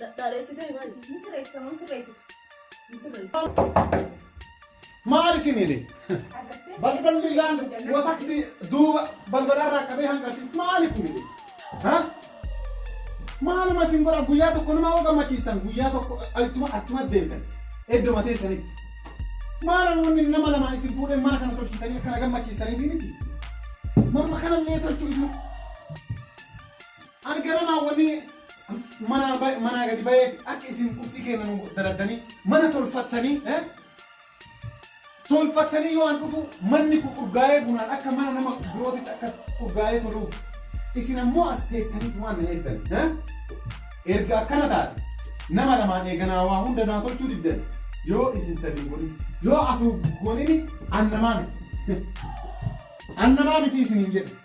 Dhadhaadheessitee maali? Ni sirreessu kan sirreessu. Ni sirreessu. Maal isin hidhe? Balballi laan wasakti duuba balbalarraa qabee hanqasi maali kun hidhe? Ha? Maaluma isin godha guyyaa tokko nama hoo gammachiistan guyyaa tokko ittuma achuma deemtan iddoo matee sanii. Maal wanni nama lama isin fuudhee mana kana tolchitanii akkana gammachiistaniif miti. Morma kanallee tolchuu isin. Ani garamaa wani manaa ba- manaa gadi ba'ee akka isin qurxii keenya nu daladdanii mana tolfattanii eh? tolfattanii yoo an dhufu manni kun urgaa'ee bunaan akka mana nama birootitti akka urgaa'ee toluuf isin ammoo as teettanii waan na eegdan eh? erga akkana taate nama lamaan eeganaa waa hunda naa tolchuu diddan yoo isin sadii godhin yoo afur godhini an namaa miti an namaa miti isiniin jedhe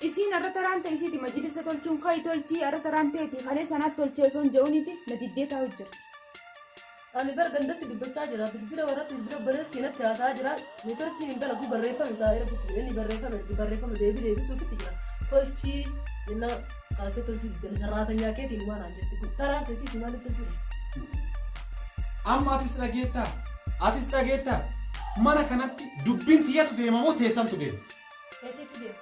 Isiin arra taraan ta isiiti majilisa tolchuun kayi tolchii arra taraan teeti kalee sanaat tolchee osoo hin ja'uuniti na diddee taa'u jirti. Ani bar gandatti dubbachaa jira bilbila warratti bilbila obbolees keenatti haasaa jira neetworkiin hin dalagu barreeffame isaa ergutti jira inni barreeffame ergi barreeffame deebii deebisuufitti jira tolchii jennaa kaatee tolchuu diddani sarraatanyaa keetiin waan aan jetti kun taraan keessi itti maaliif tolchuu jirti. Amma atis dhageettaa? Atis dhageettaa? Mana kanatti dubbiin tiyyatu deema moo teessantu deema? Eegeetu deema.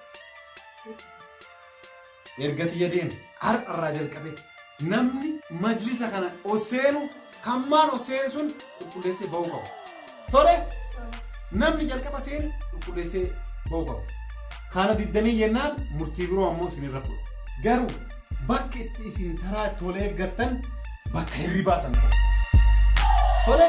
Erga tiyya deeme har'arraa jalqabee namni majlisa kana osseenu kan maal osseene sun qulqulleessee ba'uu qaba. Tole namni jalqaba seene qulqulleessee ba'uu qaba. Kana diddanii jennaan murtii biroo ammoo isinirra fudha. Garuu Bakki itti isin taraa itti wal eeggattan bakka hirribaa san ta'e. Tole.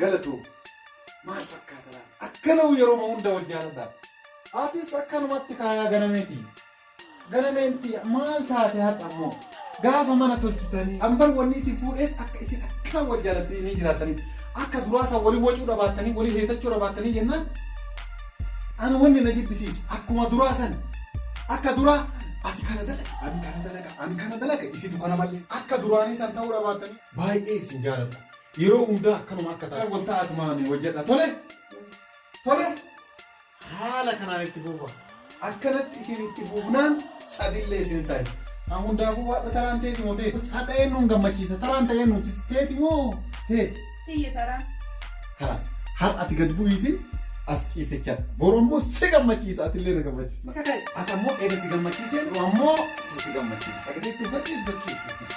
Galatoomi. Maal fakkaata laata? Akkana yeroo hunda wal jaaladhaa. Atis akkanumatti kaayaa ganameeti. Ganameenti maal taate har'a immoo? Gaafa mana tolchitanii ambar wanni isin fuudheef akka isin akkaan wal jaalatanii jiraatanii akka duraasa walii wacuu dhabaatanii walii heetachuu dhabaatanii jennaan ani wanni na jibbisiisu akkuma duraa san akka duraa ati kana dalaga ani kana dalaga ani kana dalaga isitu kana malee akka duraanii san ta'uu dhabaatanii baay'ee isin jaaladha. Yeroo hundaa akkanuma akka taatu. Wal ta'aa tumaa mee hojjedha tole tole haala kanaan itti fuufa akkanatti isin itti fuufnaan sadillee isin taasisa. An hundaafuu waadha taraan teeti moo teeti? Hadha eenyuun gammachiisa taraan ta'ee nuti teeti moo teeti? Tiyya taraa. Kalas har'a ati gad bu'iitiin as ciisichaa boru immoo si gammachiisa atillee na gammachiisa. Ati ammoo eega si gammachiisee ammoo si si gammachiisa. Agarsiistu bachiisu bachiisu.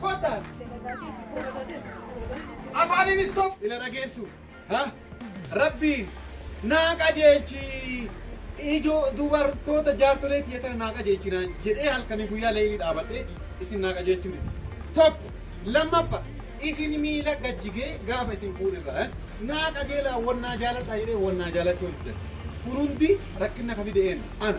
Kottaas. Afaaniinis tokko ila dhageessu. Ha? Rabbiin naa qajeelchi ijoo dubartoota jaartolee tiyya kana naa qajeelchi naan jedhee halkanii guyyaa leelii dhaabadhee isin naa qajeelchuu dide. Tokko lammaffa isin miila gajjigee gaafa isin fuudhirra eh? naa qajeelaa wannaa jaaladhaa jedhee wannaa jaalachuu diddan. Kun hundi rakkina ka fide eenyu? Ana.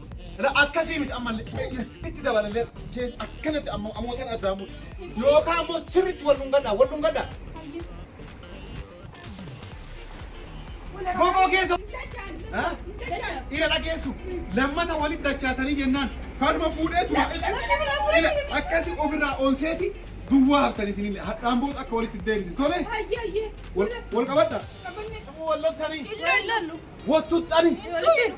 La akkasii miti ammallee itti dabalallee keessa akkanatti amma amootan addaa mutu. Yookaan ammoo sirriitti wal dhungadhaa wal dhungadhaa. Bokoo keessa Ha? ira dhageessu lammata walitti dachaatanii jennaan kanuma fuudhee tura. Ira akkasii ofirraa onseeti duwwaa haftan isinillee hadhaan booda akka walitti deebisin tole wal wal qabadha. Wal lottanii Ilaallu. wal tuttanii. Ilaallu.